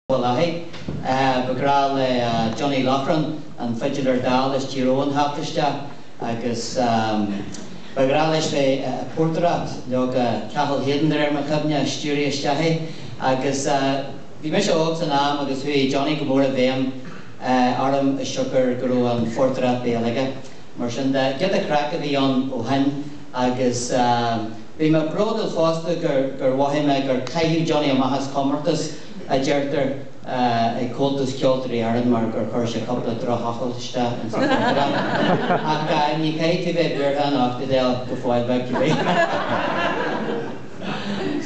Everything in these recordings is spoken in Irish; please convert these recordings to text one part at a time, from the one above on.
Bhaile Átha. Ba ghnách le Johnny Loughran an fidiléir dall as Tír Eoghain theacht isteach agus ba ghnách leis bheith ag portaireacht. Leoga, Cathal Hayden de réir mo chuimhne a stiúraigh isteach é agus bhí mise óg san am agus chuaigh Johnny go mór i bhfeidhm orm as siocair go raibh an phortaireacht béil aige. Mar sin de, giota craic a bhí ann ó shin agus. Bhí mé bródúil fosta gur mhothaigh mé gur caitheadh Johnny amach as comórtas, a deirtear, ag Comhaltas Ceoltóirí Éireann mar gur chuir sé cúpla drochfhocal isteach and so forth. Ach ní chaithfeá a bheith buartha, nach dtéann go fóill beag cibé.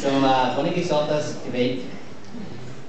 So, bhain muid sult as, cibé.